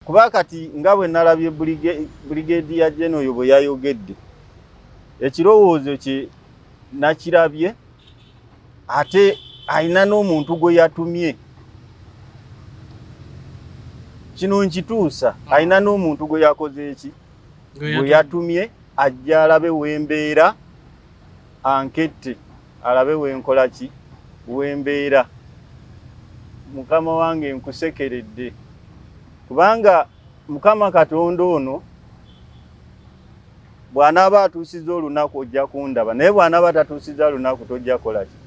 kuba kati nga bwe nalabye buligeedi ya jeno oyo bwe yayogedde ekirowoozo kye nakirabye ate alina n'omuntu gwe yatumye kino nkituusa ah. alina n'omuntu gwe yakoze eki gwe yatumye ajja alabe wembeera ankette alabe wenkola ki wembeera mukama wange nkusekeredde kubanga mukama katonda ono bw'anaaba atuusiza olunaku ojja kundaba naye bw'anaaba tatuusiza lunaku tojja kola ki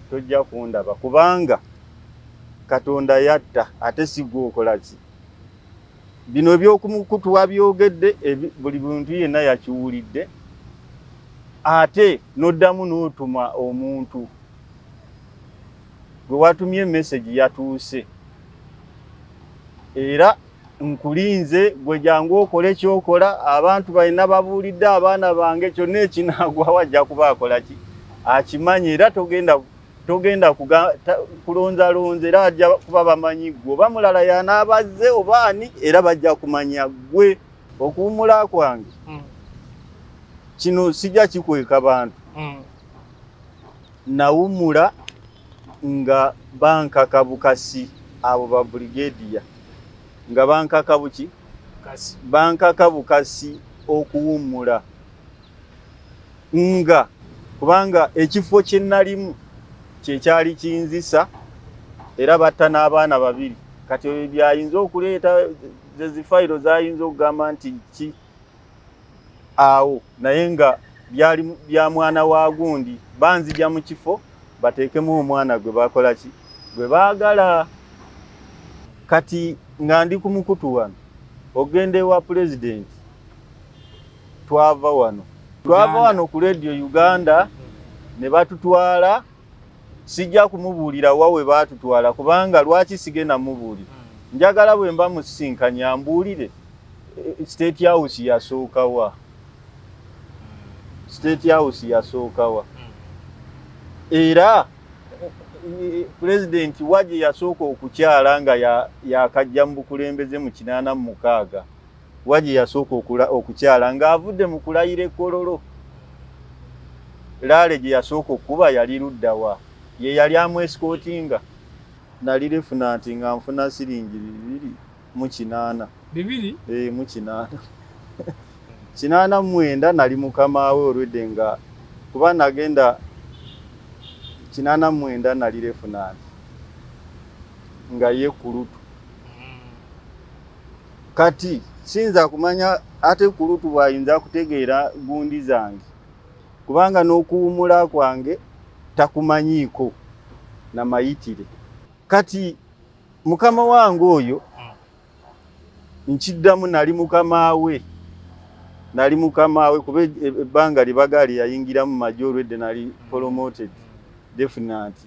tojja kundaba kubanga katonda yatta ate sigwokola ki Bino eby'okumukutu wabyogedde buli muntu yenna yakiwulidde ate n'oddamu n'otuma omuntu gwe watumye emesegi yatuuse era nkulinze gwe jangu okole kyokola abantu balina babuulidde abaana bange kyonna ekinaagwawo ajja kuba akola ki akimanyi era togenda togenda kulonzalonza era ajja kuba bamanyi gwe oba mulala yanaabazze oba ani era bajja kumanya gwe okuwumula kwange hmm. kino sijja kikweka bantu hmm. nawumula nga bankaka bukasi abo ba brigadiya nga bankaka buki bankaka bukasi okuwumula nga kubanga ekifo kye nalimu kye kyali kinzisa era batta n'abaana babiri kati ebyo byayinza okuleeta zezifayiro zayinza okugamba nti ki awo naye nga byali bya mwana wa gundi banzija mu kifo bateekemu omwana gwe bakola ki gwe baagala kati nga ndi ku mukutu wano ogenda ewa pulezidenti twava wano twava wano ku radio uganda ne batutwala sijja kumubuulira wa we baatutwala kubanga lwaki sigenda mubuulira hmm. njagala bwe mba musisinkanye ambuulire eh, state house yasookawa hmm. state house yasookawa hmm. era eh, pulezidenti wa gye yasooka okukyala nga yakajja mu bukulembeze mu kinaana mu mukaaga wa gye yasooka okukyala ng'avudde mu kulayira ekkololo laale gye yasooka okukuba yali ludda wa ye yali amwesikootinga nali lifuna nti nga nfuna siringi bibiri mu kinaana bibiri ee eh, mu kinaana kinaana mwenda nali mukama we olwedde nga kuba nagenda kinaana mwenda nali lifuna nti nga ye kulutu kati siyinza kumanya ate kulutu bwayinza kutegeera gundi zange kubanga n'okuwumula kwange takumanyiiko na mayitire kati mukama wange oyo nkiddamu nali mukama we nali mukama we kuba e, e, ebbanga lye bagaali yayingiramu majo olwedde nali promoted definitely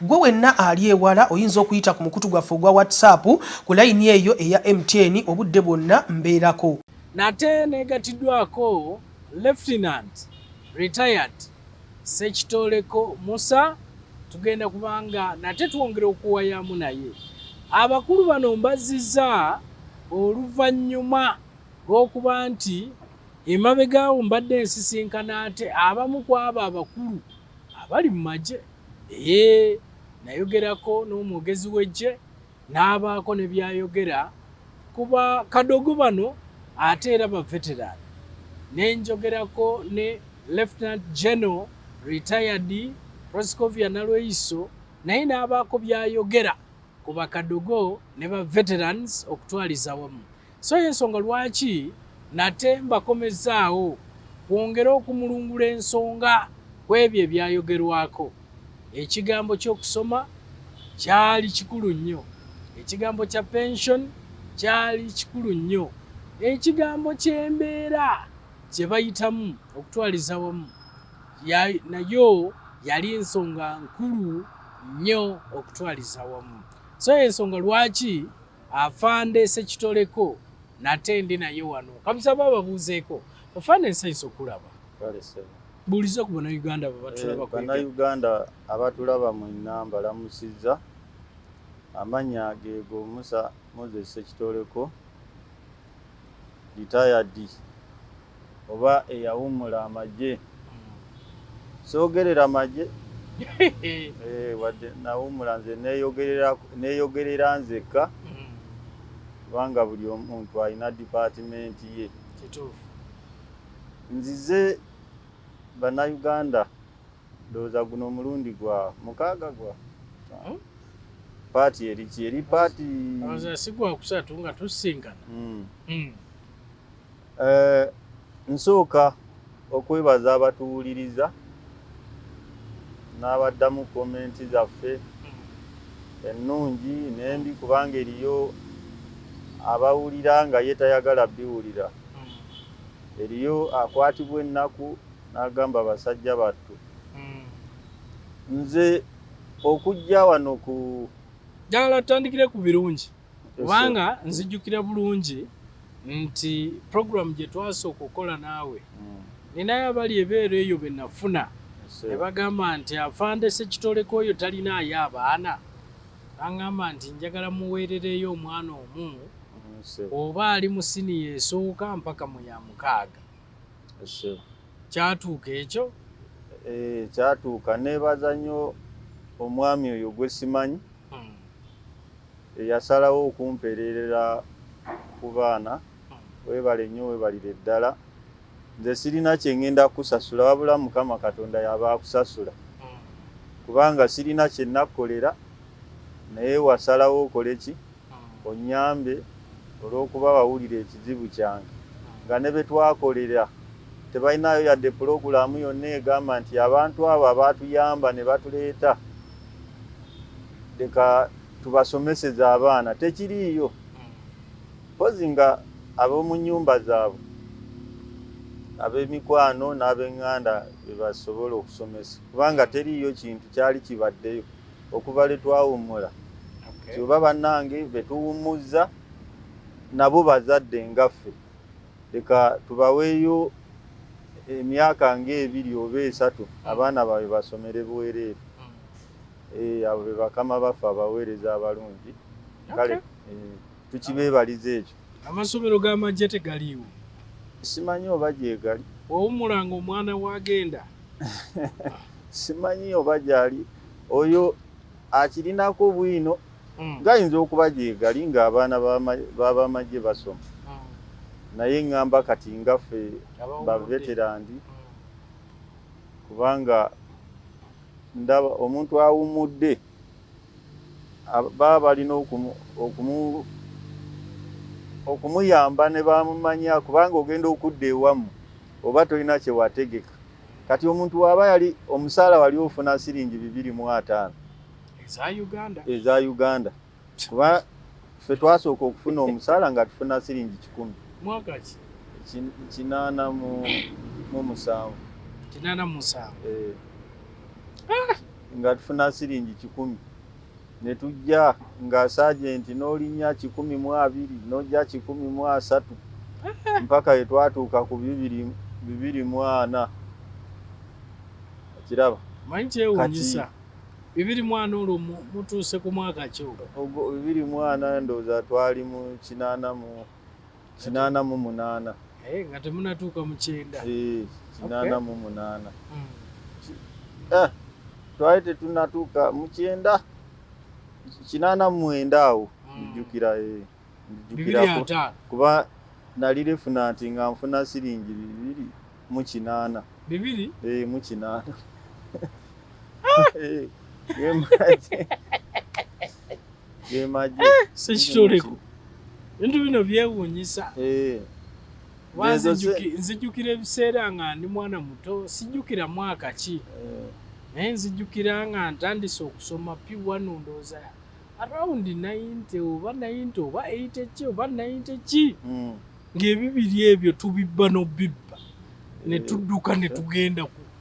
Gwe wenna ali ewala oyinza okuyita ku mukutu gwaffe ogwa WhatsApp ku layini eyo eya MTN obudde bwonna mbeerako. Nate negatiddwako Lieutenant Retired Ssekitooleko Musa tugenda kubanga nate twongera okuwayaamu naye. Abakulu bano mbazziza oluvannyuma lw'okuba nti emabegaawo mbadde nsisinkana ate abamu kwabo abakulu. abali mu magye ee nayogerako n'omwogezi w'eggye n'abaako ne byayogera kuba kadogo bano ate era baveteraani ne njogerako ne lieutenant general retired proscovia nalweyiso naye n'abaako byayogera ku bakadogo ne ba veterans okutwaliza wamu So y'ensonga lwaki nate mbakomezzaawo kwongere okumulungula ensonga ku ebyo ebyayogerwako. Ekigambo ky'okusoma kyali kikulu nnyo. Ekigambo kya pension kyali kikulu nnyo. Ekigambo ky'embeera gye bayitamu okutwaliza wamu nayo yali nsonga nkulu nnyo okutwaliza wamu. So y'ensonga lwaki Afande Sekitoleko nate ndi naye wano kabusaba ababuuzeeko ofaana ensi ensi okulaba buuliza ku bannayuganda bebatulababanayuganda eh, abatulaba mu namba lamusizza amanya geego musa moses sekitoleko ritayadi oba eyawummula amagye soogerera magye eh, wadde nawummula nze neeyogerera nzekka mm. kubanga buli omuntu alina dipaatimenti ye nzize bannayuganda ndowooza guno omulundi gwa mukaaga gwa hmm? paati eriki eri paati sigwakusatu nga tusisinkana hmm. Hmm. Eh, nsooka okwebaza abatuwuliriza n'abaddamu komenti zaffe ennungi n'embi kubanga eriyo abawulira nga ye tayagala biwulira eriyo akwatibwa ennaku n'agamba basajja battu nze okujja wano ku ddala tutandikire ku birungi kubanga nzijukira bulungi nti program gye twasooka okukola naawe mm. ninayo abali ebeera eyo be nafuna ne bagamba nti afandese kitoleko oyo talinaayo abaana nangamba nti njagala muweerereyo omwana omu oba ali mu siniya esooka mpaka mu ya mukaaga kyatuuka ekyo eh, kyatuuka nebaza nnyo omwami oyo gwe simanyi hmm. eyasalawo okumpereerera ku baana hmm. webale nnyo webalire ddala nze sirina kyengenda kukusasula wabula mukama katonda yaba akusasula hmm. kubanga sirina kyenakkolera naye wasalawo okole ki Onnyambe olw'okuba wawulira ekizibu kyange nga ne be twakolera tebalinaayo yadde pulogulaamu yonna egamba nti abantu abo abaatuyamba ne batuleeta leka tubasomeseze abaana tekiriiyo mpozi nga ab'omu nnyumba zaabwe ab'emikwano n'ab'eŋŋanda be basobola okusomesa kubanga teriiyo kintu kyali kibaddeyo. okuva lwe twawummula kyoba bannange be tuwummuzza nabo bazadde ngaffe leka tubaweeyo emyaka ng'ebiri oba esatu hmm. abaana baabwe basomere bwereere hmm. eh, abo be bakama baffe abaweereza abalungi kale eh, tukibeebaliza ekyo amasomero g'amajje tegaliiwo simanyi oba gyegali owummulanga omwana wagenda simanyi oba gyali oyo akirinako bwino hmm. gayinza okuba gyegali ng'abaana babamagye basoma hmm. naye ŋŋamba kati ngaffe baveterandi hmm. kubanga ndaba omuntu awummudde mm. baba balina okumuyamba ne bamumanya kubanga ogenda okudda ewamu oba tolina kye wategeka kati omuntu waaba yali omusaala wali ofuna siringi bibiri mu ataano eza uganda kuba ffe twasooka okufuna omusaala nga tufuna siringi kikumi kinaana mu musanvu kinaana mu musanvu eh. ah! nga tufuna siringi kikumi ne tujja nga sajenti n'olinnya kikumi mu abiri n'ojja kikumi mu asatu mpaka ye twatuuka ku bibiri bibiri mu ana okiraba manyi kyewunyisa bibiri mwana olwo mutuuse ku mwaka ki ogwo bibiri mwana ndowooza twali mu kinaana mu kinaana mu munaana eh, nga temunatuuka mu kyenda eh, kinaana mu munaana hmm. eh, twali tetunatuuka mu kyenda kinaana mu mwenda awo hmm. ndijjukira ndijjukirako kuba nali lifuna nti nga nfuna siringi bibiri mu kinaana bibiri mu kinaana ah! Eh, sekitoleko ebintu bino byewuunyisa eh. nzijukira ebiseera nga ndi mwana muto sijjukira mwaka ki eh. naye nzijukira nga ntandise okusoma piwano ndooza around 90 oba 90 oba 80 ki oba 90 ki hmm. ng'ebibiri ebyo tubibba n'obibba ne tudduka ne tugenda ku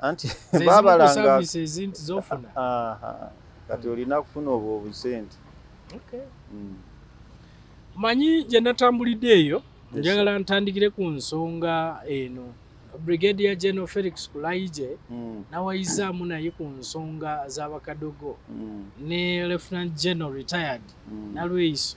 anti babalanga kati olina kufuna obwo obusente mm. manyi gye natambulidde eyo njagala ntandikire ku nsonga eno brigadier general felix kulaije mm. nawayizaamu naye ku nsonga z'abakadogo mm. ne lieutenant general retired mm. nalweyiso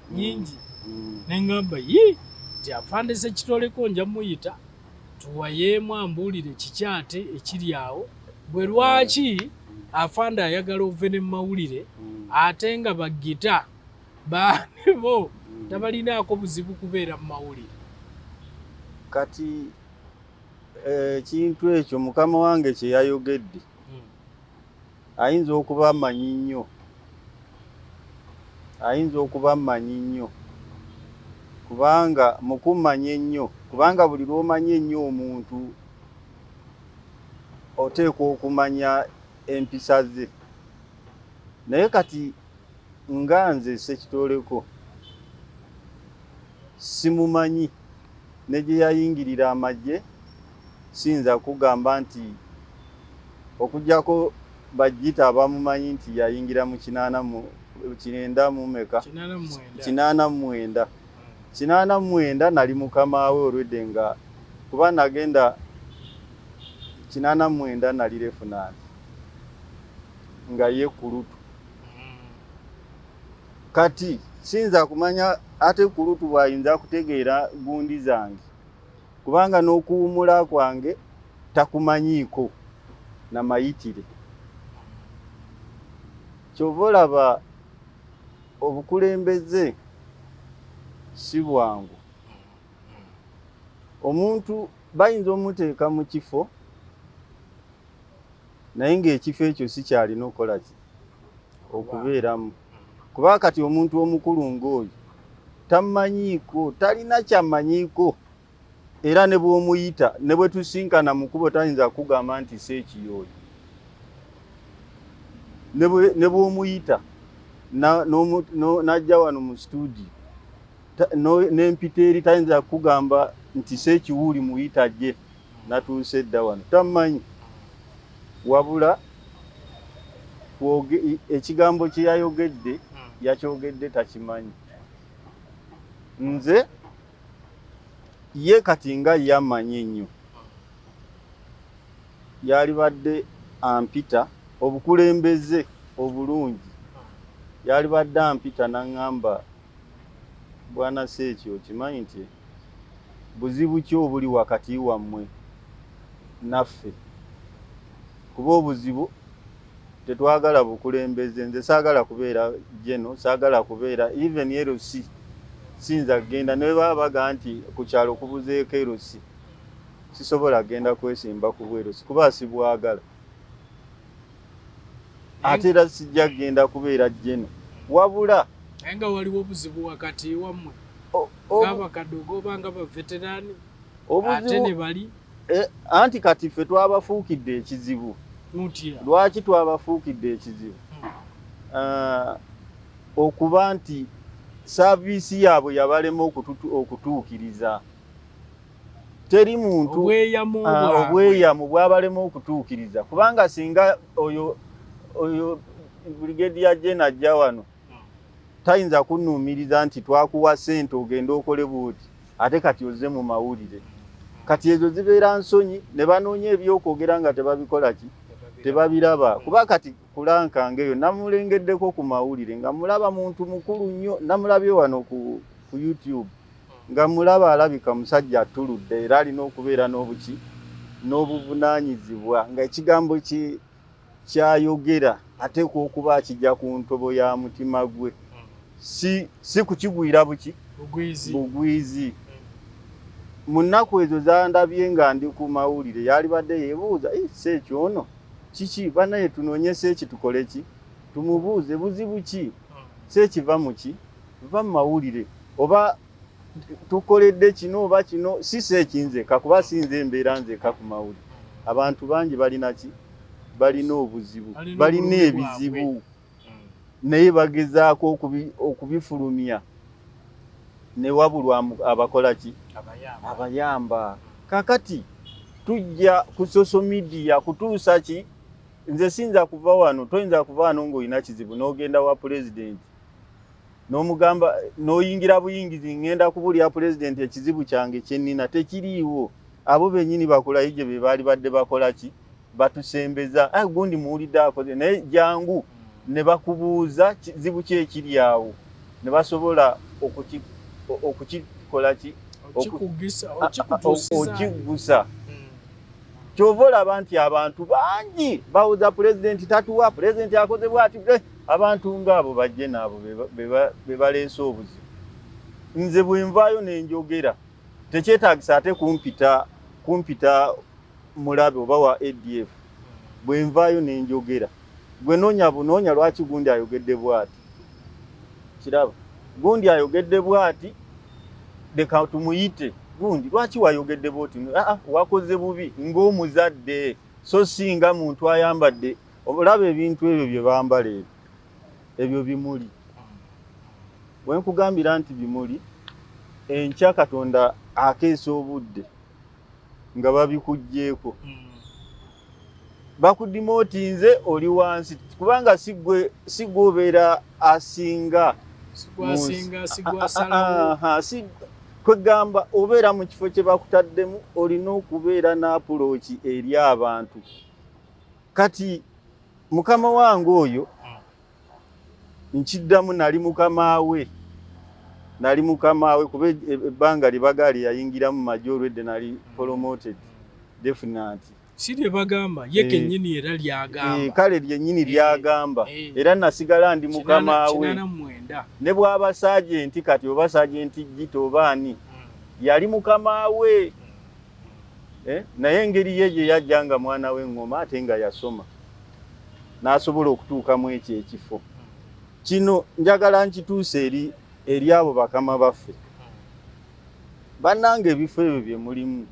nyingi mm. nengamba ye tiafandise kitoleko nja muyita tuwayeemu ambuulire kiki ate ekiri awo bwe lwaki afande ayagala ove ne mumawulire mm. ate nga bagita baanebo mm. tabalinaako buzibu kubeera mu mawulire kati eh, ekintu ekyo mukama wange kyeyayogedde ayinza okuba amanyi nnyo ayinza okuba amanyi nnyo kubanga mukummanya ennyo kubanga buli lwomanya ennyo omuntu oteekwa okumanya empisa ze naye kati nga nze sekitoleko simumanyi ne gye yayingirira amagye siyinza kukugamba nti okujjako bajjita abamumanyi nti yayingira mu kinaana mu kinenda mu meka kinaana mu mwenda kinaana mu mwenda nali mukama we olwedde nga kuba nagenda kinaana mu mwenda nali refunaanti nga ye kulutu hmm. kati siyinza kumanya ate kulutu bwayinza kutegeera gundi zange kubanga n'okuwumula kwange takumanyiiko na mayitire kyova olaba obukulembeze si bwangu omuntu bayinza omuteeka mu kifo naye ng'ekifo ekyo si kyalina okukola ki okubeeramu kuba kati omuntu omukulu ng'oyo tamanyiiko talina kyamanyiiko era ne bw'omuyita ne bwe tusinkana mu kubo tayinza kugamba nti si ekiyooyo ne bw'omuyita n'ajja wano mu situudiyo n'empita eri tayinza kugamba nti si ekiwuuli muyita gye natuuse dda wano tammanyi wabula ekigambo kye yayogedde hmm. yakyogedde takimanyi nze ye kati nga yamanyi ennyo hmm. yalibadde ampita obukulembeze obulungi yalibadde ampita naŋŋamba bwana seeki okimanyi nti buzibu ki obuli wakati wammwe naffe kuba obuzibu tetwagala bukulembeze nze saagala kubeera jeno saagala kubeera even erosi siyinza kugenda nebaba baga nti ku kyalo kubuzeeko erosi sisobola kugenda kwesimba kubwerosi kuba sibwagala ate era sijja kugenda kubeera jeno wabula naye nga waliwo obuzibu wakati wammwe ng'abakadde ogoba nga baveterani ate ne bali e, anti kati ffe twabafuukidde ekizibu lwaki twabafuukidde ekizibu hmm. ah, okuba nti saaviisi yaabwe yabalema okutuukiriza teri muntu obweyamu ah, bwabalema okutuukiriza kubanga singa oyo oyo brigade ya jena ajja wano tayinza kunuumiriza nti twakuwa sente ogende okole buuti ate kati ozze mu mawulire kati ezo zibeera nsonyi ne banoonya ebyokwogera nga tebabikola ki tebabiraba kuba kati kulankanga eyo namulengeddeko ku mawulire nga mulaba muntu mukulu nnyo namulabye wano ku youtube nga mulaba alabika musajja atuludde era alina okubeera n'obuki n'obuvunaanyizibwa nga ekigambo kyayogera ateekwa okuba akijja ku ntobo ya mutima gwe si si kukigwira buki bugwizi mu nnaku ezo zandabye nga ndi ku mawulire yalibadde yebuuza si ekyo ono kiki banaye tunoonyesa eki tukole ki tumubuuze buzibu ki si ekiva mu ki va mu mawulire oba tukoledde kino oba kino si si ekinzeka kuba sinze embeera nzeka ku mawuli abantu bangi balina ki balina obuzibu balina ebizibu naye bagezaako okubifulumya newabulwa abakola ki abayamba kakati tujja ku social media kutuusa ki nze siyinza kuva wano toyinza kuva wano ng'olina kizibu n'ogenda wa pulezidenti nomugamba noyingira buyingizi ngenda kubulira pulezidenti ekizibu kyange kyenina tekiriiwo abo benyini bakolayo gye be baali badde bakola ki batusembeza ah, gundi muwulidde akoze naye jangu ne bakubuuza kizibu ki ekiri awo ne basobola okukikola ki okiggusa kyova olaba nti abantu bangi bawoza pulezidenti tatuwa pulezidenti akoze bwati abantu ng'abo bajje naabo be baleese obuzibu nze bwe nvaayo ne njogera tekyetaagisa ate kumpita kumpita mulabe oba wa adf bwe nvaayo ne njogera gwe noonya bunoonya lwaki gundi ayogedde bwati kiraba gundi ayogedde bwati leka tumuyite gundi lwaki wayogedde bwoti aa wakoze bubi ng'omuzadde so si nga muntu ayambadde olaba ebintu ebyo bye bambala ebyo ebyo bimuli we nkugambira nti bimuli enkya katonda akeesa obudde nga babikugyeko hmm. bakudima oti nze oli wansi kubanga sigwe obeera asinga kwegamba obeera mu kifo kye bakutaddemu olina okubeera n'apuloki eri abantu kati mukama wange oyo hmm. nkiddamu nali mukama we nali mukama we kuba e, e, ebbanga libaga lyeyayingiramu maji olwedde nali hmm. promoted definant si lyebagamba ye eh. kenyini era lyagamba eh, kale lyenyini eh. lyagamba era nasigala ndi mukama we ne bwaba sajenti kati oba sajenti jita oba ani hmm. yali mukama we eh? naye engeri ye gye yajja nga mwana we ngoma ate nga yasoma n'asobola okutuuka mu ekyo ekifo kino njagala nkituuse eri eri abo bakama baffe bannanga ebifo ebyo bye mulimu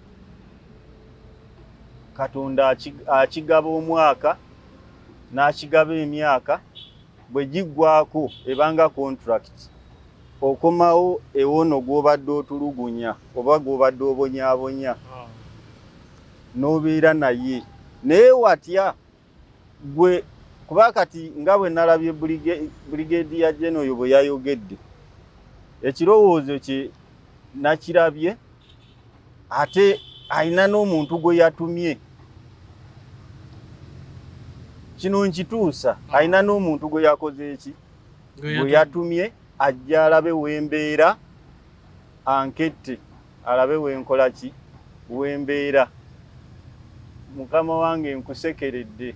katonda akigaba omwaka n'akigaba emyaka bwe giggwako ebanga kontulakiti okomawo ewono gw'obadde otulugunya oba gw'obadde obonyabonya ah. n'obeera naye naye watya gwe kuba kati nga bwe nalabye buligeedi ya jena oyo bwe yayogedde ekirowoozo kye nakirabye ate alina n'omuntu gwe yatumye kino nkituusa mm. alina n'omuntu gwe yakoze eki gwe yatumye ajja alabe wembeera ankette alabe wenkola ki wembeera mukama wange nkusekeredde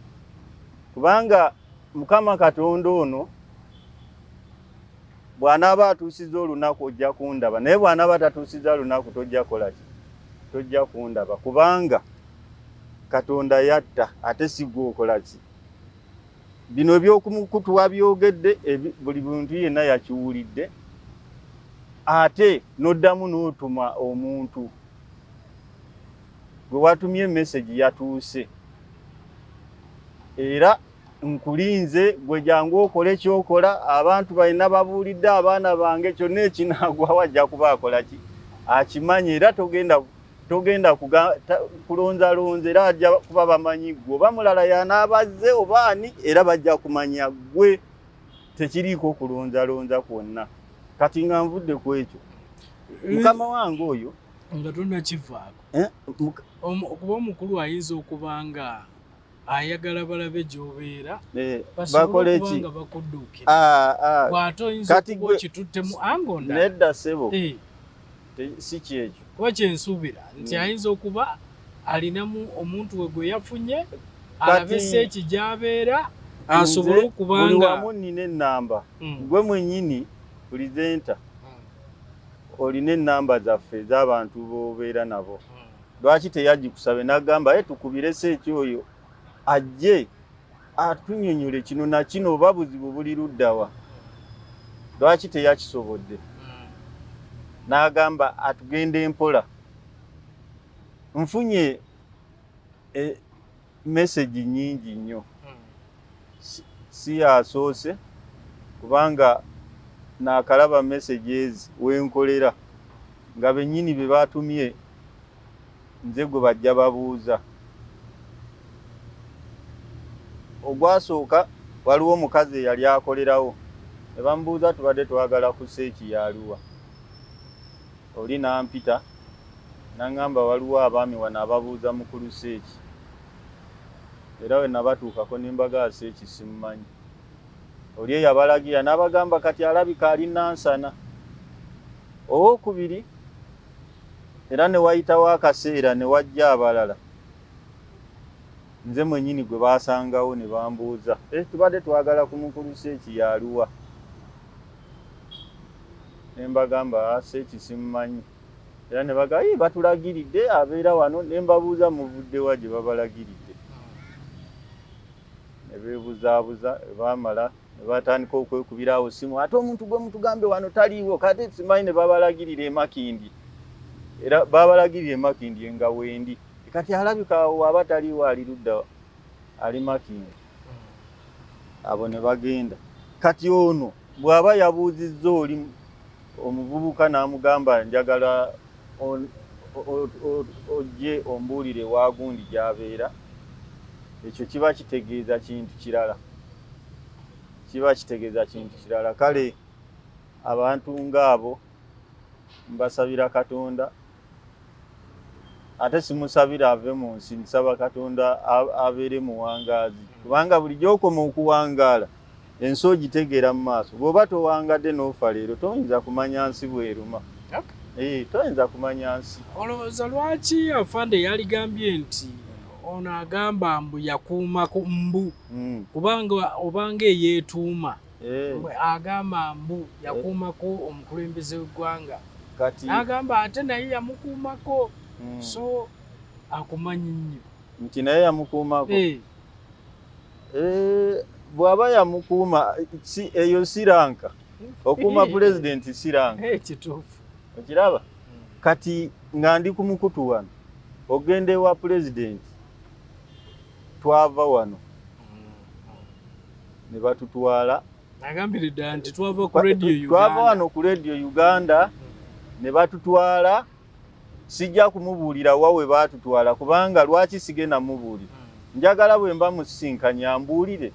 kubanga mukama katonda ono bw'anaaba atuusizza olunaku ojja kundaba naye bw'anaaba tatuusizza lunaku tojja kukola ki tojja kundaba kubanga katonda yatta ate sigwa okola ki bino eby'okumukutu wabyogedde buli muntu yenna yakiwulidde ate n'oddamu n'otuma omuntu gwe watumye emesegi yatuuse era nkulinze gwe jangu okole kyokola abantu balina babuulidde abaana bange kyonna ekinaagwawo ajja kuba akola ki akimanyi era togenda togenda kulonzalonza era ajja kuba bamanyi gwe oba mulala yanaabazze oba ani era bajja kumanya gwe tekiriiko kulonzalonza kwonna kati nga nvudde ku ekyo eh, mukama wange oyo nga tonakivaako eh, okuba omukulu ayinza okuba nga ayagala balabe gyobeera eh, basobola okuba nga bakudduukira ah, ah. bw'ate oyinza okuba okituttemu angonda nedda ssebo eh. si kyekyo kuba kyensuubira nti mm. ayinza okuba alinamu omuntu we gwe yafunye alabe seeki gy'abeera asobole okuba nga buli wamu nnina ennamba mm. gwe mwennyini pulizenta mm. olina ennamba zaffe ez'abantu b'obeera nabo lwaki teyagikusabe nagamba ye tukubirese ekyoyo ajje atunyonyole kino nakino oba buzibu buli luddawa lwaki teyakisobodde hmm. nagamba atugenda empola nfunye e, message nyingi nnyo si yasoose kubanga nakalaba messages wenkolera nga benyini be batumye nze gwe bajja babuuza ogwasooka waliwo omukazi eyali akolerawo ne bamubuuza tubadde twagala kusa ekiyaaliwa Oli n'ampita n'ang'amba waliwo abaami wano ababuuza mukulu Seeki era bwe nabatuukako ne mbagamba Seeki simumanyi. Oli eyabalagira n'abagamba kati alabika ali Nansana. Owookubiri era ne wayitawo akaseera ne wajja abalala nze mwennyini gwe baasangawo ne bambuuza, eh tubadde twagala ku mukulu Seeki y'aluwa? ne mbagamba ah, seeki simumanyi era ne baga yi batulagiridde abeera wano ne mbabuuza muvuddewa gye babalagiridde ne beebuzaabuza baamala ne batandika okwekubira awo simu ate omuntu gwe mutugambe wano taliiwo kate simanyi ne babalagirira emakindi era babalagirira emakindi enga wendi kati alabika awo aba taliiwo ali ludda ali makindi abo ne bagenda kati ono bw'aba yabuuzizza oli omuvubuka n'amugamba njagala ojje ombuulire waagundi gy'abeera ekyo kiba kitegeeza kintu kirala kiba kitegeeza kintu kirala kale abantu ng'abo mbasabira katonda ate simusabira ave mu nsi nsaba katonda abeere muwangaazi kubanga buli gyokoma okuwangaala ensi ogitegeera mu maaso bw'oba towangadde n'ofa leero toyinza kumanya nsi bweruma eh, toyinza kumanya nsi olowooza lwaki afande yaligambye nti ono agamba mbu yakuuma ku mbu hmm. kubanga obanga eyeetuuma eh. agamba mbu yakuumako eh. omukulembeze w'eggwanga n'agamba ate naye yamukuumako hmm. so akumanyi nnyo nti naye yamukuumako eh. bw'aba yamukuuma eyo siranka okuuma pulezidenti siranka kituufu okiraba hmm. kati nga ndi ku mukutu wano ogenda ewa pulezidenti twava wano ne batutwala twava wano ku radio uganda ne batutwala sijja kumubuulira wa we baatutwala kubanga lwaki sigenda mubuulira hmm. njagala bwe mba musisinkanya mbuulire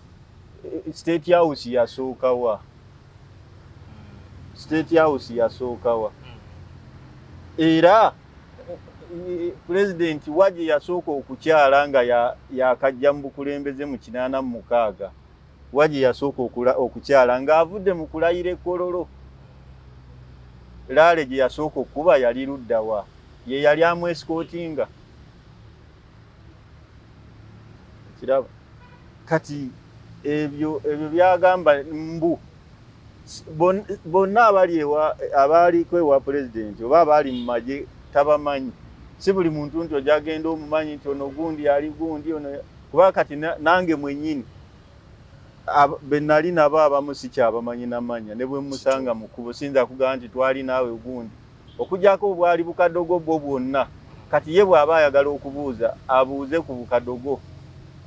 eh, state house yasookawa hmm. state house yasookawa hmm. era pulezidenti wa gye yasooka okukyala nga yakajja mu bukulembeze mu kinaana mu mukaaga wa gye yasooka okukyala ng'avudde mu kulayira ekololo laale gye yasooka okukuba yali luddawa ye yali amwesikootinga kiraba kati ebyo ebyo byagamba mbu bonna abali ewa abaaliko ewa pulezidenti oba abaali mu magye tabamanyi si buli muntu nti ojagenda omumanyi nti ono gundi ali gundi ono kuba kati nange mwenyini benali nabo abamu sikyabamanyi namanya ne bwe musanga mu kkubo siyinza kugamba nti twali naawe gundi Okugyako bwali bukadogo bwo bwonna kati ye bw'aba ayagala okubuuza abuuze ku bukadogo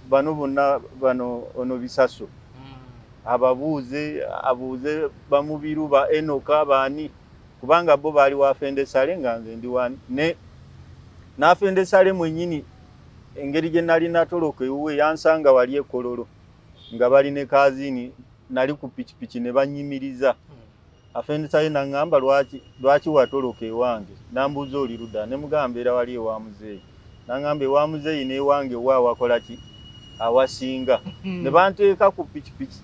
bano bonna bano ono bisaso hmm. ababuuze abuuze bamubiru ba enoka baani kubanga bo baali wafende sale nga nze ndi wani ne nafende sale mwenyini engeri gye nali natoloka ewuwe yansanga wali ekololo nga bali ne kazini nali ku pikipiki ne banyimiriza hmm. afendisaye naŋŋamba lwaki lwaki watoloka ewange nambuuza oli luda ne mugamba mbeera wali ewa muzeeyi naŋŋamba ewa muzeeyi n'ewange wa wakola ki awasinga hmm. ne banteeka ku pikipiki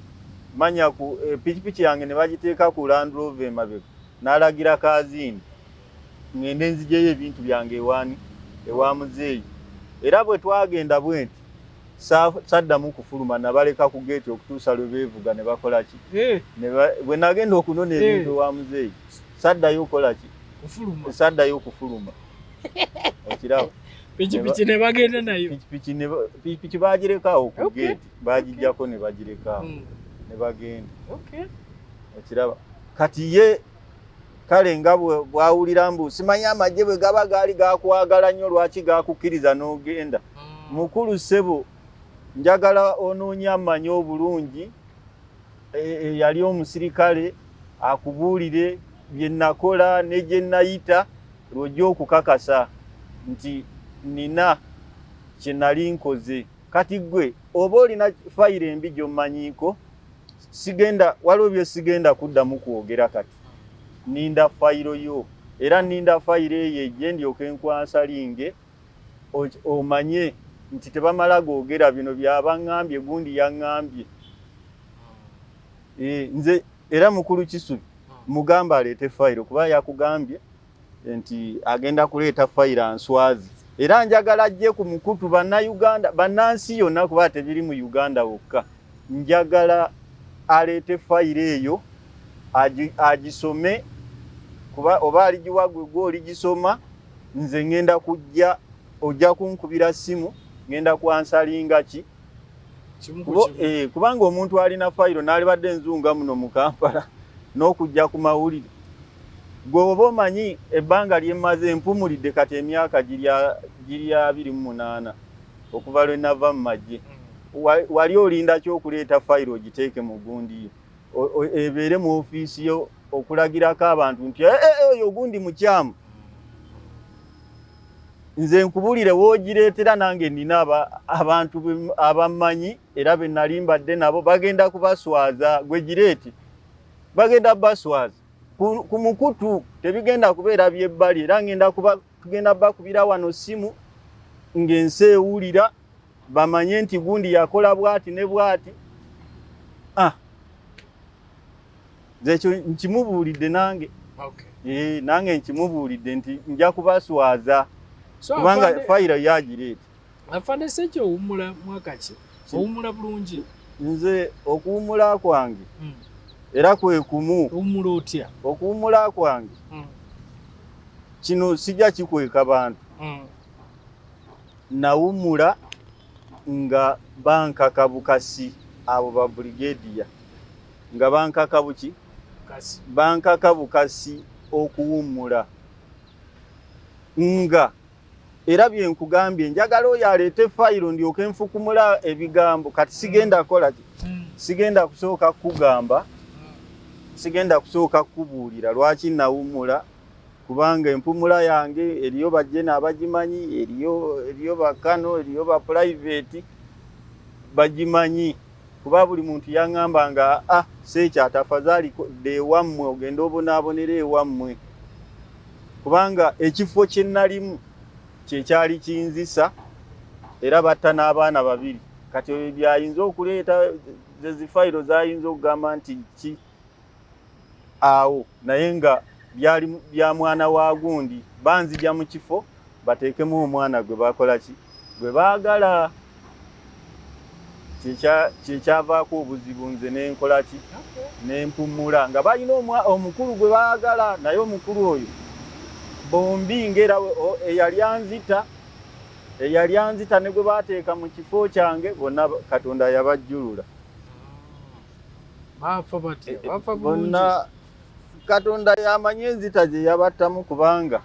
manya ku eh, pikipiki yange ne bagiteeka ku landrove emabega n'alagira kaziini ŋŋende nzijeyo ebintu byange ewaani ewa muzeeyi era bwe twagenda bwenti saddamu kufuluma nabaleka ku geeti okutuusa lwe beevuga ne bakola ki eh. bwe nagenda okunona eh. ebintu ewa muzeeyi saddayo okukola ki saddayo okufuluma okiraba pikipiki ne bagenda nayo pikipiki bagirekawo ku geeti bagijjako ne bagirekawo hmm. ne bagenda okiraba kati ye kale nga bwawulira mbu simanyi amagye bwe gaba gaali gakwagala nnyo lwaki gakukkiriza n'ogenda hmm. mukulu ssebo njagala onoonya amanyi obulungi eyali e, omusirikale akubuulire bye nakola ne gye nayita lwojja okukakasa nti nina kye nali nkoze kati ggwe oba olina fayiro embi gy'omanyiiko sigenda waliwo byesigenda kuddamu kwogera kati ninda fayiro yo era ninda fayiro eyo ejje ndyoke nkwansalinge omanye nti tebamala googera bino byabaŋŋambye gundi yaŋŋambye e, nze era mukulu kisubi mugamba aleete fayiro kuba yakugambye nti agenda kuleeta fayira nswazi era njagala ajje ku mukutu bannayuganda bannansi yonna kuba tebiri mu uganda wokka njagala aleete fayiro eyo agisome kuba oba aligiwa gwe gwe oligisoma nze ŋŋenda kujja ojja kunkubira ssimu ŋŋenda kwansalinga ki eh, kubanga omuntu alina fayiro n'alibadde enzunga muno mu kampala n'okujja ku mawulire Gwe oba omanyi ebbanga lyemmaze mpumulidde kati emyaka giri abiri mu munaana okuva lwe nava mu magye. Wali olinda ki okuleeta fayiro ogiteeke mu gundi yo ebeere mu ofiisi yo okulagirako abantu nti eh, eh, eh, oyo ogundi mukyamu? Nze nkubulire woogireetera nange nina abantu abammanyi era be nali mbadde nabo bagenda kubaswaza gwe gireeti bagenda baswaza. ku mukutu tebigenda kubeera byebbali era ngenda kugenda bakubira wano ssimu ng'ensi ewulira bamanye nti gundi yakola bwati ne bwati ah. ekyo nkimubuulidde nange eh, nange nkimubuulidde nti nja kubaswaza kubanga fayiro yagireeta afande sejo owumula mwakaki owumula bulungi nze okuwumula kwange hmm. era kwe kumu owumula otya okuwumula kwange hmm. kino sija kikweka bantu hmm. nawumula nga bankaka bukasi abo ba brigadier nga bankaka buki bankaka bukasi okuwumula nga era bye nkugambye njagala oyo aleete fayiro ndyoke nfukumula ebigambo kati sigenda kola ki hmm. sigenda kusooka kukugamba sigenda kusooka kukubuulira lwaki nawummula kubanga empumula yange eriyo bajjena abagimanyi eriyo eriyo bakano eriyo bapulayiveeti bagimanyi kuba buli muntu yangamba nga a ah, sekyatafazaali dda ewammwe ogenda obonaabonera ewammwe kubanga ekifo kye nalimu kyekyali kinzisa era batta n'abaana babiri kati ebyo byayinza okuleeta zezifayiro zayinza okugamba nti ki awo naye nga byali bya mwana wa gundi banzija mu kifo bateekemu omwana gwe bakola ki gwe baagala kyekyavaako obuzibu nze nenkola ki nempummula nga balina omukulu gwe baagala naye omukulu oyo bombi ngaera eyali anzita eyali anzita ne gwe bateeka mu kifo kyange bonna katonda yabajjulula baafa batya eh, baafa bonna katonda yamanyi enzita gye yabattamu kubanga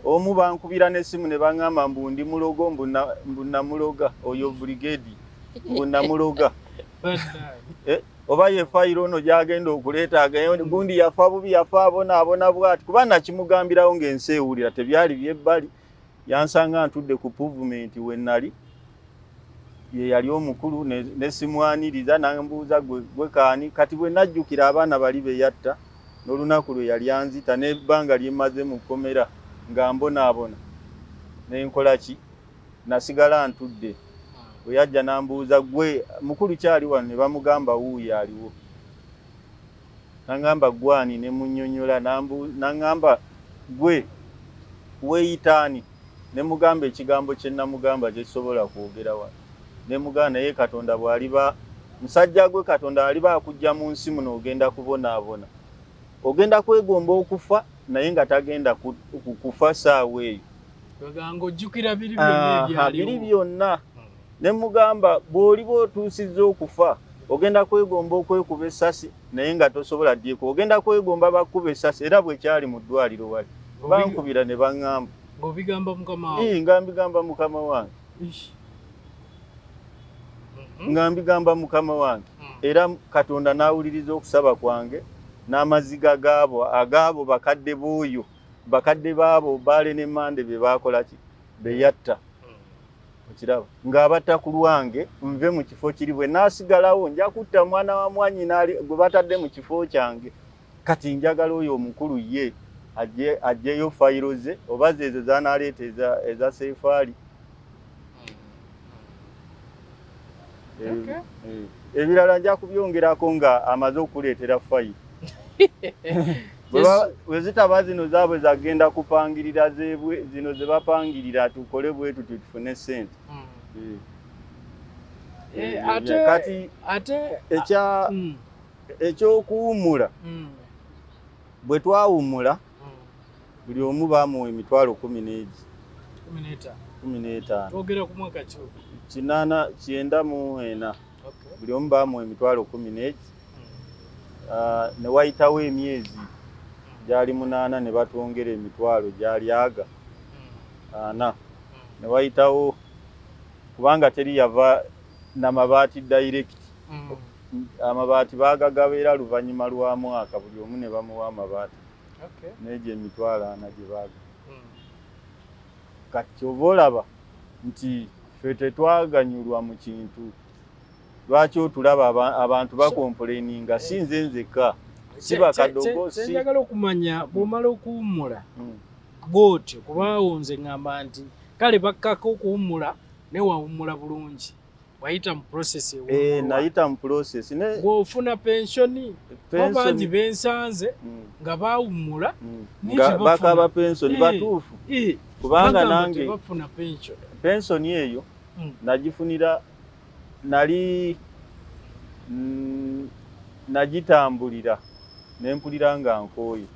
omu bankubira n'essimu ne baŋŋamba mbu ndi mulogo mbu namuloga oyo brigedi mbu namuloga eh, oba ye fayiro ono gyagenda okuleeta gundi yafa bubi yafa abonaabona bwati kuba nakimugambirawo ng'ensi ewulira tebyali byebbali yansanga ntudde ku puvumenti we nali ye yali omukulu nesimwaniriza nambuuza gwe kaani kati bwe najjukira abaana bali be yatta n'olunaku lwe yali anzita n'ebbanga lye mmaze mu kkomera nga mbonaabona ne nkola ki nasigala ntudde bwe yajja nambuuza gwe mukulu kyali wano ne bamugamba wuuyo aliwo N'aŋŋamba, Ggwe ani? Ne mmunnyonnyola. N'aŋŋamba, Ggwe weeyita ani? Ne mmugamba ekigambo kye nnamugamba kye sisobola kwogera wano. Ne mmugamba, Naye Katonda bw'aliba, musajja gwe, Katonda aliba akuggya mu nsi muno, ogenda kubonaabona. Ogenda kwegomba okufa, naye nga tagenda kufa ssaawa eyo. Biri byonna. Ne mmugamba, Bw'oliba otuusizza okufa, ogenda kwegomba okwekuba essasi, naye nga tosobola ddiiko. Ogenda kwegomba bakkube essasi, era bwe kyali mu ddwaliro wali. Bankubira ne baŋŋamba. Ng'obigamba mukama wo? Ii, nga mbigamba mukama wange. Ish. Mhm. Nga mbigamba mukama wange. Mm. Era Katonda n'awuliriza okusaba kwange n'amaziga gaabo, agaabo bakadde b'oyo, bakadde baabo Bbaale ne Mmande be baakola ki? Be yatta. okiraba ng'abatta ku lwange nve mu kifo kiri bwe naasigalawo nja kutta mwana wa mwanyina gwe batadde mu kifo kyange kati njagala oyo omukulu ye ajjeyo fayiro ze oba zeezo zanaaleeta eza seefaali hmm. eh, eh. ebirala nja kubyongerako nga amaze okuleetera fayiro bwe zitaba zino zaabwe zagenda kupangirira zebwe zino ze bapangirira tukole bwe tutyo tufune ssente hmm. eh. eh, kati ah, hmm. ekyokuwummula hmm. bwe twawummula buli omu baamuwa emitwalo kumi n'egi kumi n'etaano kinaana kyenda mu ena buli omu baamuwa emitwalo kumi n'egi ah, ne wayitawo emyezi gyali munaana ne batwongera emitwalo gyali aga ana ne wayitawo kubanga teri yava na mabaati direct amabaati baagagaba era luvannyuma lwa mwaka buli omu ne bamuwa amabaati n'egyo emitwalo ana gye baaga kati kyova olaba nti ffe tetwaganyulwa mu kintu lwaki otulaba abantu bakompuleninga si nze nzekka siba kadogo kyenjagala okumanya bwomala okuwummula hmm. bwotyo kubaawo nze ngamba nti kale bakkako okuwummula ne wawummula bulungi wayita mu process eh, nayita mu process bwofuna pensioni bangi bensanze hmm. nga bawummula hmm. bakaba pensioni eh, batuufu eh. kubanga nange pensoni eyo hmm. nagifunira nali mm, nagitambulira nempulira nga nkooye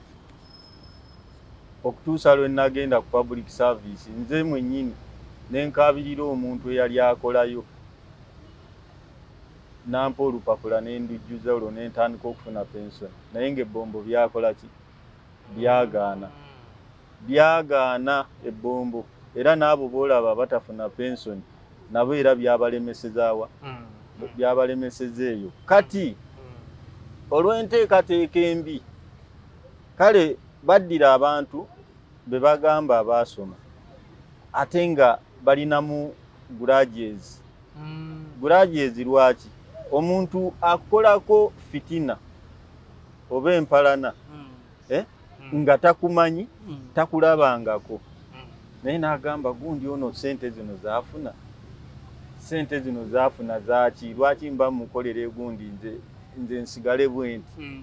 okutuusa lwe nagenda ku public service nze mwennyini nenkaabirira omuntu eyali akolayo nampa olupapula nendujjuza olwo nentandika okufuna pensoni naye ngaebbombo byakola ki byagaana byagaana ebbombo era n'abo boolaba abatafuna pensoni nabo era byabalemesezaawa hmm. byabalemeseza eyo kati hmm. olw'enteekateeka embi kale baddira abantu be bagamba abaasoma ate nga balinamu gurages hmm. gurages lwaki omuntu akolako fitina oba empalana eh? mm. nga takumanyi mm. takulabangako mm. naye nagamba gundi ono sente zino zafuna sente zino zafuna zaki lwaki mba mukolera egundi nze nze nsigale bwenti mm.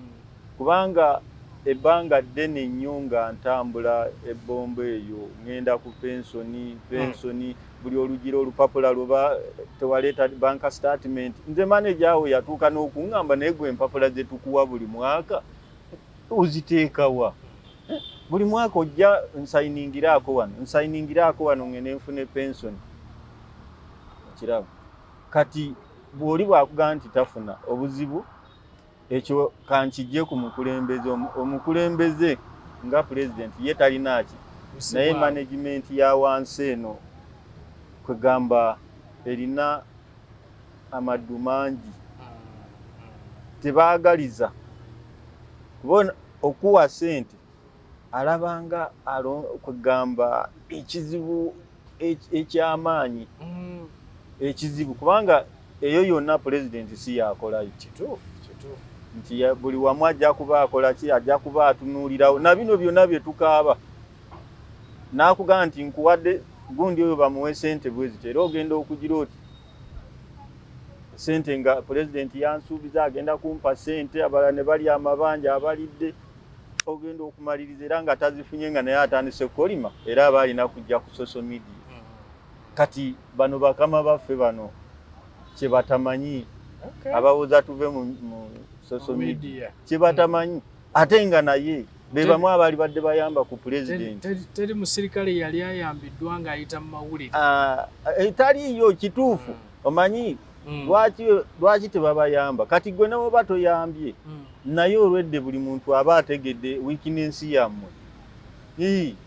kubanga ebbanga ddene nnyo nga ntambula ebbombo eyo ŋŋenda ku pensoni pensoni mm. buli olugira olupapula lweba tewaleeta banka statement nze maneja awo yatuuka n'okuŋŋamba naye gwe empapula zetukuwa buli mwaka oziteekawa buli mwaka ojja nsayiningiraako wano nsayiningiraako wano ngende nfune pensoni okiraba kati bw'oli bwakugamba nti tafuna obuzibu ekyo kankijje ku mukulembeze omukulembeze nga pulezidenti ye talinaaki naye managimenti ya wansi eno kwegamba erina amaddu mangi tebaagaliza kubona okuwa sente alabanga kugamba ekizibu ekyamaanyi mm. ekizibu kubanga eyo yonna pulezidenti si yakolayo kituufu nti buli wamu ajja kuba akola ki ajja kuba atunuulirawo na bino byonna bye tukaaba n'akugamba nti nkuwadde gundi oyo bamuwe sente bweziti era ogenda okugira oti sente nga pulezidenti yansuubiza agenda kumpa sente abala ne bali amabanja abalidde ogenda okumaliriza era nga tazifunye nga naye atandise kukolima era aba alina kujja ku social media mm-hmm. kati bano bakama baffe bano kyebatamanyi abawoza tuve mu social media kyebatamanyi ate nga naye be bamu abaali badde bayamba ku pulezidenti. Teri musirikale yali ayambiddwa ng'ayita mu mawulire. Ah, eh, taliiyo kituufu hmm. omanyi hmm. lwaki tebabayamba kati gwe newoba toyambye hmm. naye olwedde buli muntu aba ategedde wikinensi yammwe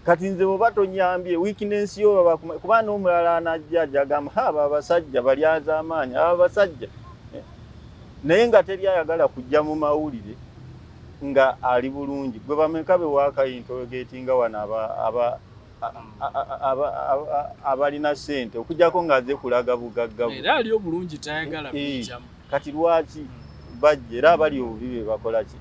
kati nze bwoba tonyambye wikinensi yo kuba n'omulala anajja ajagamba ha aba abasajja balyaza amaanyi aba abasajja eh, naye nga teri ayagala kujja mu mawulire nga ali bulungi gwe bameka be wakayintogeeti nga wano aba aba abalina sente okujako nga aze kulaga bugagga era ali obulungi tayagala kujamu kati lwaki bajja era abali obubi be bakola ki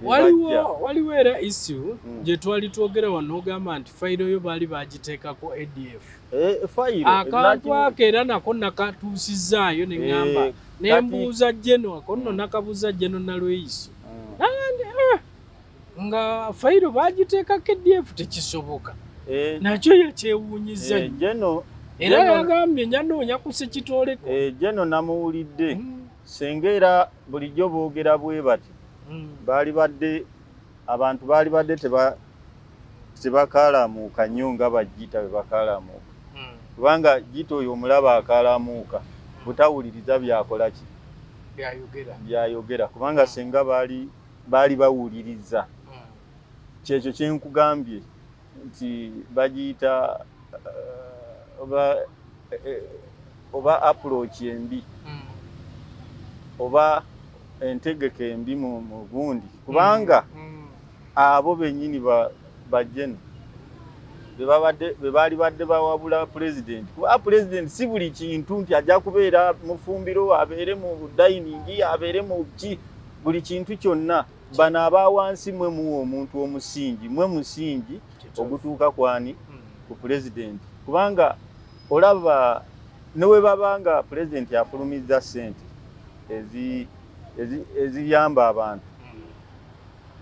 waliwo waliwo era issue hmm. gye twali twogera wano ogamba nti fayiro yo baali bagiteekako adf Eh, akantu ako era nako nakatuusizaayo ne ŋŋamba eh, ne mbuuza jeno ako nno mm. nakabuuza jeno nalweyiso mm. ah, nga fayiro bagiteeka kdf tekisoboka eh. nakyo yakyewuunyiza jeno era yagambye nyanoonya kusekitooleko jeno namuwulidde mm. senga era bulijjo boogera bwe bati baali badde abantu baali badde teba tebakaalamuuka nnyo nga bajjita bwe bakaalamuuka hmm. kubanga jjita oyo omulaba akaalamuuka hmm. butawuliriza byakola ki byayogera kubanga senga baali baali bawuliriza hmm. kyekyo kye nkugambye nti bagiyita eh, oba eh, eh, oba approach embi oba entegeka embi mu bundi kubanga mm. Abo bennyini ba, ba Gen. Be baali badde bawabula Pulezidenti. Kuba Pulezidenti si buli kintu nti ajja kubeera mufumbiro, abeere mu dayiningi, abeere mu ki, buli kintu kyonna. Bano aba wansi mwe muwa omuntu omusingi, mwe musingi ogutuuka kwani? Hmm. Ku Pulezidenti. Kubanga olaba ne bwe baba nga Pulezidenti afulumizza ssente eziyamba abantu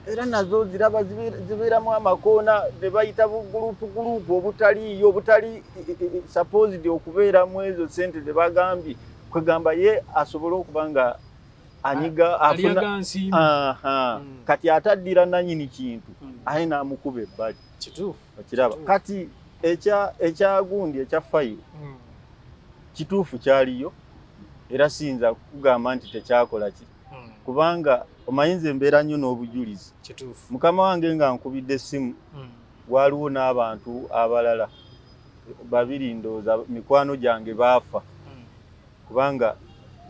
era nazo ziraba zibeeramu amakoona ne bayita bugulupu gulupu obutaliiyo obutali supposed okubeera mu ezo sente ze bagambye kwegamba ye asobole okuba nga anyiga afuna hmm. kati ataddira nanyini kintu hmm. aye n'amukuba ebbali okiraba kati ekyagundi ekya fayiro hmm. kituufu kyaliyo era siyinza kugamba nti tekyakola kiri hmm. kubanga omanyi nze mbeera nnyo n'obujulizi mukama wange nga nkubidde essimu hmm. waaliwo n'abantu abalala babiri ndooza mikwano gyange baafa hmm. kubanga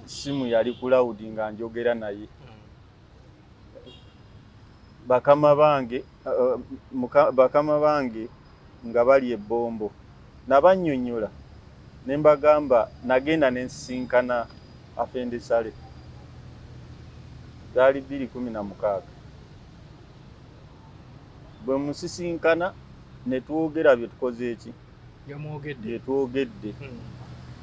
ssimu yali kulawudi nga njogera naye bakama bange Uh, uh, bakama bange nga bali ebbombo nabanyonyola ne mbagamba nagenda ne nsisinkana afendesale zaali bbiri kumi na mukaaga bwe musisinkana ne twogera bye tukoze eki bye twogedde hmm.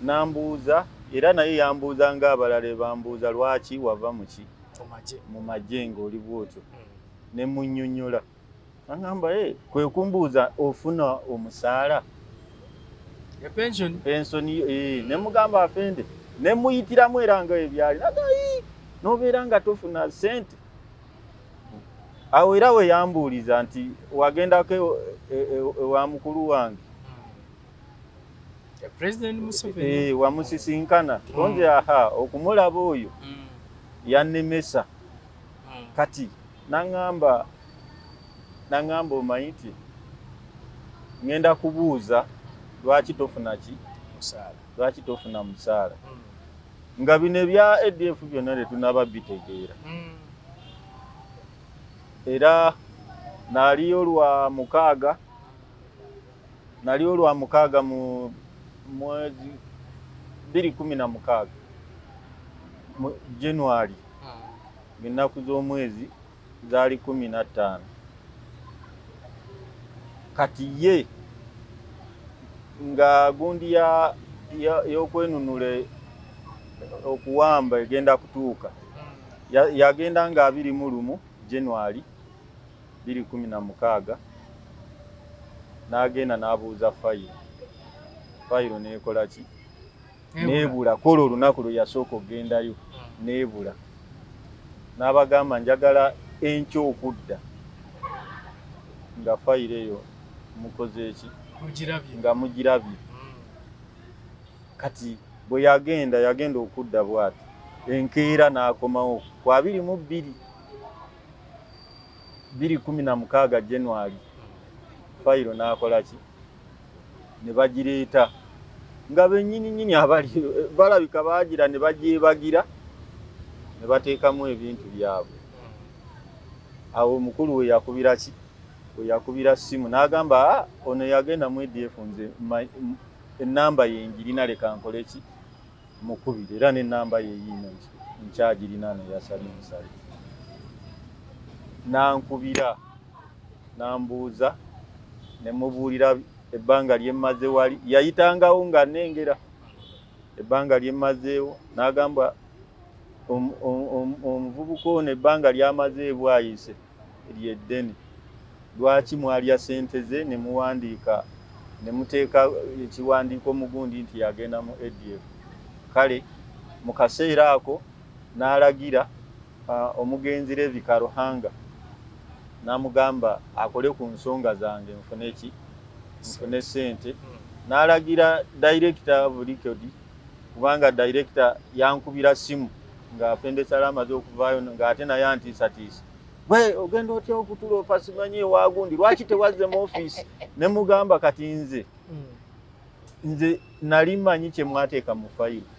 nambuuza era naye yambuuza ng'abalala bambuuza lwaki wava muki mu magye ng'oli bwotyo hmm. ne munnyonnyola aŋamba e eh, kwe kumbuuza ofuna omusaala pensoni eh, ne mugamba afende ne muyitiramu era nga ebyali nagayi n'obeera nga tofuna ssente awo era we yambuuliza nti wagendako ewa e, e, e, mukulu wange eh, wamusisinkana konze hmm. aha okumulaba oyo hmm. yannemesa mm. kati naŋamba naŋamba omanyi nti ŋenda kubuuza lwaki tofuna ki lwaki tofuna musaala mm. nga bino ebya adf byonna tetunaba bitegeera mm. era naliyo lwa mukaaga naliyo lwa mukaaga mu mwezi biri kumi na mukaaga mu january ng'ennaku z'omwezi zaali kumi na ttaano kati ye nga gundi y'okwenunula okuwamba egenda kutuuka yagenda nga abiri mu lumu january biri kumi na mukaaga n'agenda n'abuuza fayiro fayiro n'ekola ki nebula kwolwo olunaku lwe yasooka okugendayo hmm. nebula n'abagamba njagala enkya okudda nga fayiro eyo mukoze eki nga mugirabye hmm. kati bwe yagenda yagenda okudda bwati enkeera n'akomawo ku abiri mu bbiri bbiri kumi na mukaaga january fayiro n'akola ki ne bagireeta nga bennyini nnyini abali balabika baagira ne bagyebagira ne bateekamu ebintu byabwe awo omukulu we yakubira ki we yakubira ssimu n'agamba ah, ono yagenda mu edf nze ennamba ye ngirina leka nkole ki Mukubire era n'ennamba ye yiino nkyagirina ne yasali musali. N'ankubira n'ambuuza ne mubuulira ebbanga lye mmaze wali. Yayitangawo ng'annengera ebbanga lye mmazeewo n'agamba omuvubuka ono ebbanga ly'amaze e Bwaise. lye ddene lwaki mwalya sente ze nemuwandiika nemuteeka ekiwandiiko mugundi nti yagenda mu ADF kale mu kaseera ako n'alagira uh, omugenzi Levi Karuhanga n'amugamba akole ku nsonga zange nfune ki nfune sente n'alagira dayirekita bulikodi kubanga dayirekita yankubira simu nga afende sala amaze okuvaayo nga ate naye antiisatiisa gwe ogenda otya okutula opasimanyi ewagundi lwaki tewazze mu ofiisi ne mugamba kati nze hmm. nze nali manyi kye mwateeka mu fayiro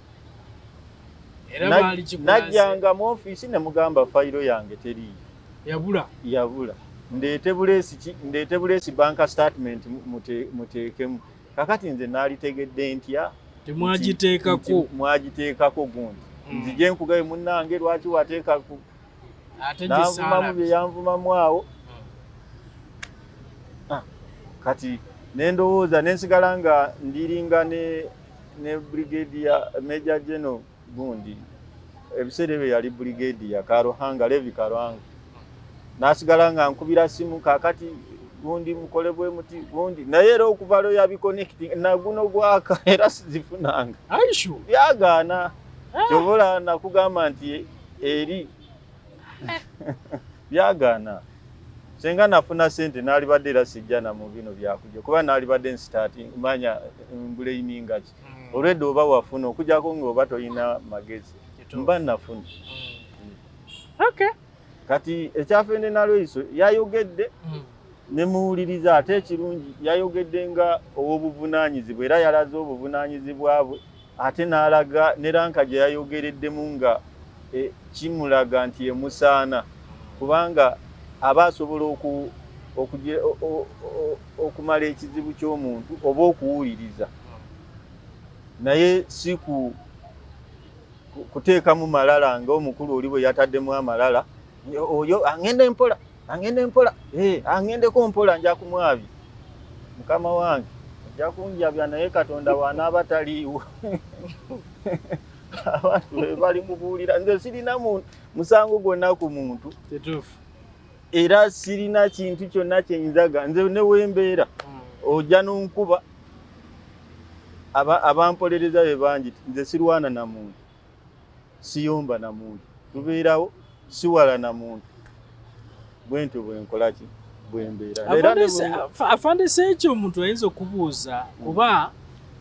najjanga mu ofiisi ne mugamba fayiro yange teriiyo yabula yabula ndeete buleesi ndeete buleesi banka statement muteekemu kakati nze naalitegedde ntya temwagiteekako mwagiteekako gundi hmm. nzije nkugabe munnange lwaki wateeka nanvumamu bye yanvumamu awo hmm. ah, kati nendowooza nensigala nga ndiringa ne ne brigade ya major general gundi ebiseera ebyo yali brigadier karuhanga levi karuhanga nasigala nga nkubira simu kakati gundi mukole bwe muti gundi naye era okuva lwe yabikonekiti naguno gwaka era sizifunanga byagaana ah. kyobola nakugamba nti eri eh. byagaana senga nafuna sente nalibadde era sijja na mu bino byakuja kuba nalibadde nsitati manya mbuleyiningaki hmm. olwedda oba wafuna okujako nga oba tolina magezi mba nafuna hmm. okay. kati ekyafende nalweiso yayogedde hmm. nemuwuliriza ate ekirungi yayogedde nga owobuvunanyizibwa era yalaze obuvunanyizibwa bwe ate nalaga ne ranka gye yayogereddemu nga e, kimulaga nti emusaana kubanga aba asobola oku okumala ekizibu ky'omuntu oba okuwuliriza naye si ku kuteekamu malala nga omukulu oli bwe yataddemu amalala oyo angenda empola angenda empola eh, angendeko mpola nja kumwabi mukama wange ajja kunjabya naye katonda wanaaba taliiwo abantu bebali mubuulira nze sirina musango gwonna ku muntu era sirina kintu kyonna kyenyinzaga nze newembeera hmm. ojja nonkuba abampolereza aba be bangi nze sirwana na muntu siyomba na muntu tubeerawo siwala na muntu bwentyo bwenkolaki bwembeeraafandisa ekyo omuntu ayinza okubuuza hmm. kuba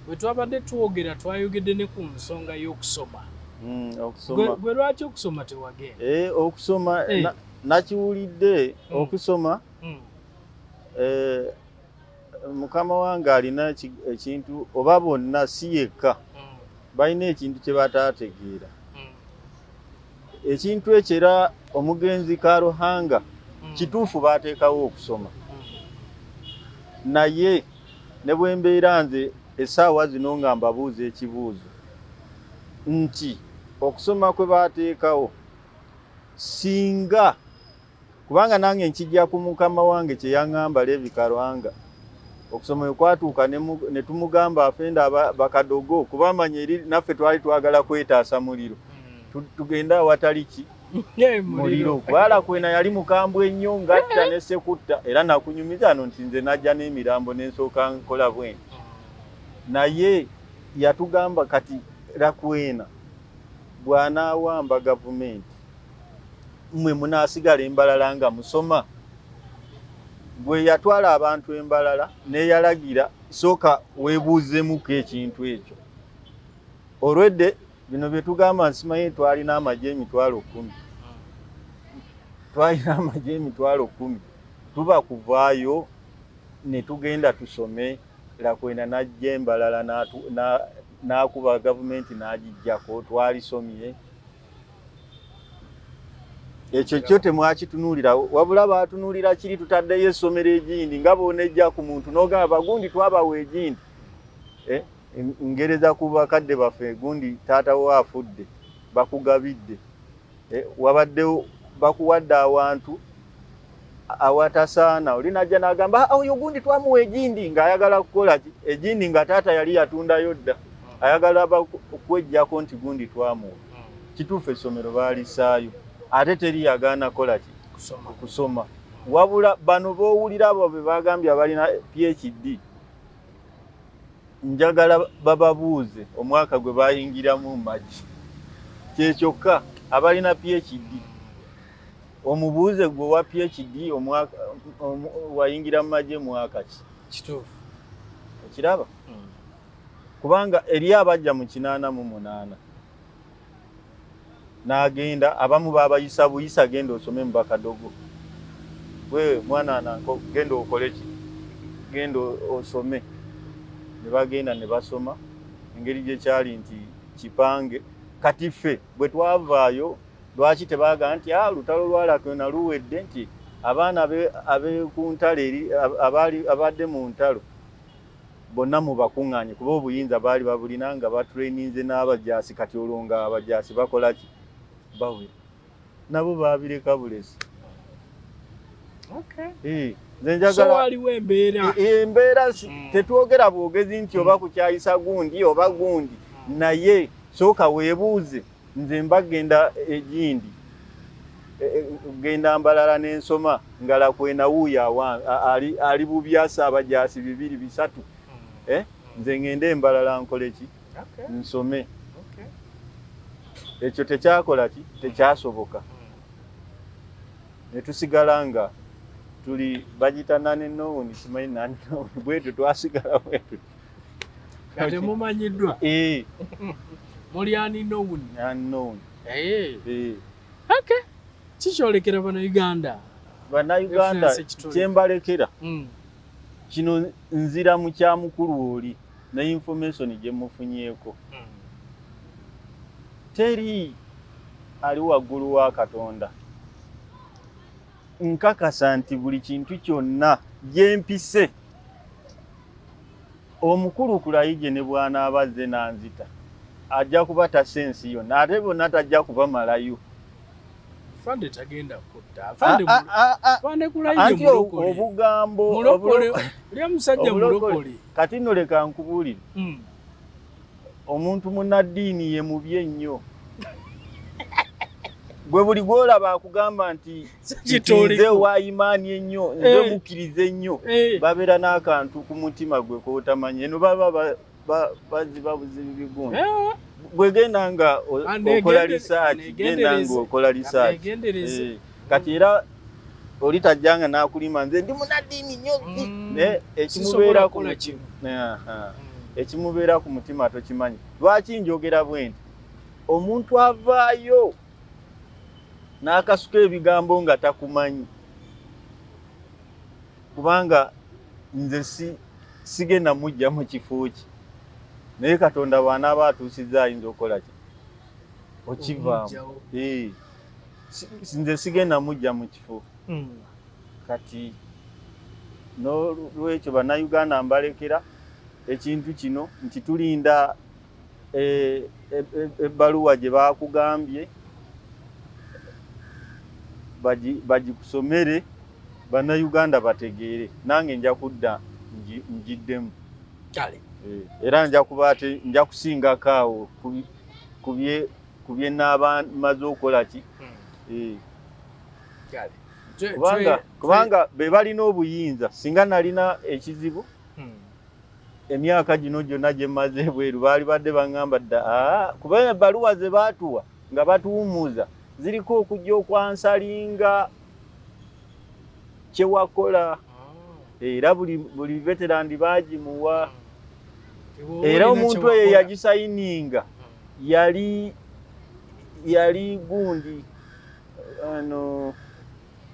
bwe twabadde twogera twayogedde ne ku nsonga y'okusoma hmm, gwe lwaki okusoma tewagenda eh, okusoma eh. nakiwulidde hmm. okusoma mukama wange alina ekintu oba bonna si yekka hmm. balina ekintu kye bataategeera hmm. ekintu ekyo era omugenzi karuhanga hmm. kituufu baateekawo okusoma naye ne bwe mbeera nze essaawa zino nga mbabuuza ekibuuzo nti okusoma kwe baateekawo singa Kubanga nange nkijja ku mukama wange kye yaŋŋamba Levi Karwanga. Okusoma bwe kwatuuka ne tumugamba afenda bakadogo kuba amanya eri naffe twali twagala kwetaasa muliro hmm. tugende awatali ki muliro kubala kwena yali mukambwe ennyo ngatta ne sekutta era nakunyumiza ano nti nze najja n'emirambo nensooka nkola bwene hmm. naye yatugamba kati rakwena bw'anaawamba gavumenti mwe munasigala embalala nga musoma gwe yatwala abantu embalala neyalagira sooka webuuzemuko ekintu ekyo olwedde bino byetugamba nsimaye twalina amaje emitwalo kumi twalina amaje emitwalo kumi tuba kuvaayo netugenda tusome lakwena najja embalala nakuba gavumenti nagijjako twalisomye ekyo kyo temwakitunuulirawo wabula baatunuulira kiri tutaddeyo essomero egindi nga boonejja ku muntu n'ogamba bagundi twabawa egindi eh, ngereza ku bakadde baffe gundi taata wo afudde bakugabidde eh, wabaddewo bakuwadde awantu awatasaana oli najja n'agamba ah, oyo gundi twamuwa egindi ng'ayagala kukola ki egindi nga taata yali yatundayo dda hmm. ayagala okwejjako nti gundi twamuwa hmm. kituufu essomero baalisaayo ate teri yagaana kola ki okusoma wabula bano b'owulira abo be bagambye abalina phd njagala bababuuze omwaka gwe bayingiramu magi kyekyokka abalina phd omubuuze gwe wa phd omwaka wayingira mu magye mwaka ki kituufu okiraba hmm. kubanga eri abajja mu kinaana mu munaana n'agenda abamu baabayisa buyisa genda osome mu bakadogo we mwana nanko genda okole ki genda osome ne bagenda ne basoma engeri gye kyali nti kipange kati ffe bwe twavaayo Lwaki tebaaga nti a ah, lutalo lwalako na luwedde nti abaana abekuntalo eri abaali abadde mu ntalo bonna mubakuŋŋaanye kuba obuyinza baali babulina nga batraininze n'abajaasi kati olwo nga abajaasi bakola ki bawera nabo baabireka bulesi eh, nzenjagalaaliwo embeera e, e, embeera hmm. tetwogera bwogezi nti oba kukyayisa gundi oba gundi hmm. naye sooka weebuuze nze mba genda egindi e, e, genda mbalala nensoma ngala kwenawuuyo ali, ali bubyasa abajasi bibiri bisatu hmm. eh? nze ngende embalala nkoleki okay. nsome ekyo okay. tekyakola ki tekyasoboka hmm. netusigala nga tuli bagita nani nowuni simanyi nani nowuni bwetyo twasigala bwetyo temumanyiddwa eh. muli aninown eh. eh. kikyolekera banauganda banauganda kyembalekera hmm. kino nzira mu kya mukulu oli ne information gye mufunyeeko hmm. teri ali waggulu wa katonda nkakasa nti buli kintu kyonna gyempise omukulu kulayije ne bwanaaba azze nanzita ajja kuba tasa ensi yonna ate bonna tajja kubamalayo fande tagenda kutta fande ah, ah, ah, fande kulayo mulokole obugambo mulokole lya musajja mulokole kati no leka nkubulire mm. omuntu munaddiini ye mubi ennyo gwe buli gwolaba akugamba nti nze wayimaani ennyo nze eh. mukkiriza ennyo eh. babeera n'akantu ku mutima gwe kotamanyi eno baba baziba buzibu bigundi eh. gwegenda nga okola lisaaki genda nga okola lisaaki kati era oli tajjanga n'akulima nze ndi munaddiini nnyo mm. naye ekimubeera ku mutima mm. ekimubeera ku mutima tokimanyi lwaki njogera bwe nti omuntu avaayo n'akasuka ebigambo nga takumanyi kubanga nze si sigenda mujja mu kifo ki naye katonda bw'anaaba atuusizza ayinza okukola ki okivaamu nze sigenda mujja mu kifo hmm. kati nolwekyo bannayuganda mbalekera ekintu kino nti tulinda eh, eh, eh, ebbaluwa gye baakugambye bagikusomere bannayuganda bategeere nange nja kudda njiddemu era nja kuba ate nja kusingako awo kubye ku bye nnaaba maze okukola ki hmm. eh. kubanga be balina obuyinza singa nalina ekizibu hmm. emyaka gino gyonna gye mmaze ebweru baali badde baŋŋamba dda ah, kuba ebbaluwa ze baatuwa nga batuwummuza ziriko okujja okwansalinga kyewakola ah. era buli veterandi bagimuwa ah. era omuntu eyo yagisayininga ah. yali yali gundi ano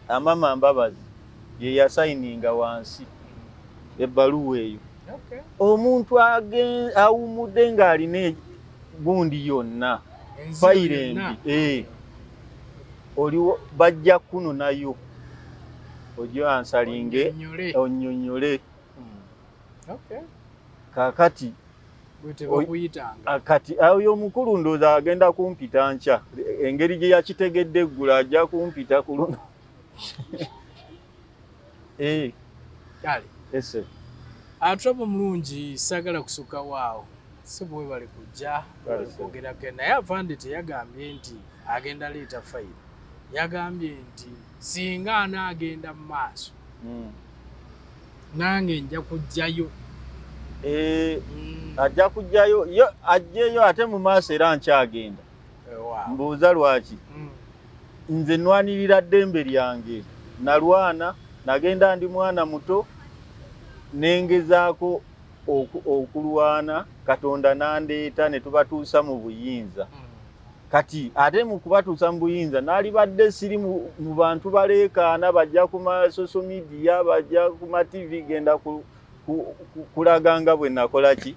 amama mbabazi yeyasayininga wansi ebbaluwa eyo omuntu awumudde ng'alina gundi yonna fayire embi eh. oliwo bajja kuno nayo ojo ansalinge onyonyole hmm. okay kakati kati ayo omukulu ndooza agenda kumpita nkya engeri gye yakitegedde eggula ajja kumpita ku luno Eh. Kale. Yes sir. Atrabo ah, mulungi sagala kusuka wao. Sibu we bali kujja okugera ke naye avande teyagambye nti agenda leeta file. Yagambye nti singa anaagenda mu maaso. Mm. Nange nja kujjayo. Eh, mm. Ajja kujjayo. Yo ajjeyo ate mu maaso era nkyagenda. mbuuza lwaki hmm. nze nwanirira ddembe lyange nalwana nagenda ndi mwana muto nengezaako okulwana katonda nandeeta netubatuusa mu buyinza hmm. kati ate mu kubatuusa mu buyinza nalibadde siri mu bantu baleekaana bajja ku masocial media bajja ku mativi genda kulaga nga bwe nakola ki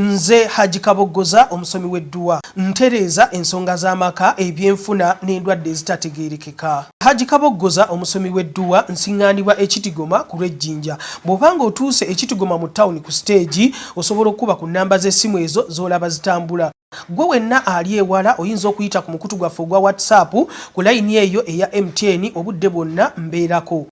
Nze Hajji Kaboggoza omusomi w'edduwa. Ntereeza ensonga z'amaka, ebyenfuna n'endwadde ezitategeerekeka. Hajji Kaboggoza omusomi w'edduwa. Nsiŋŋaanibwa e Kitigoma ku lw'e Jinja. Bw'oba ng'otuuse e Kitigoma mu ttawuni ku siteegi, osobola okukuba ku nnamba z'essimu ezo z'olaba zitambula. Ggwe wenna ali ewala oyinza okuyita ku mukutu gwaffe ogwa WhatsApp ku layini eyo eya MTN obudde bwonna mbeerako.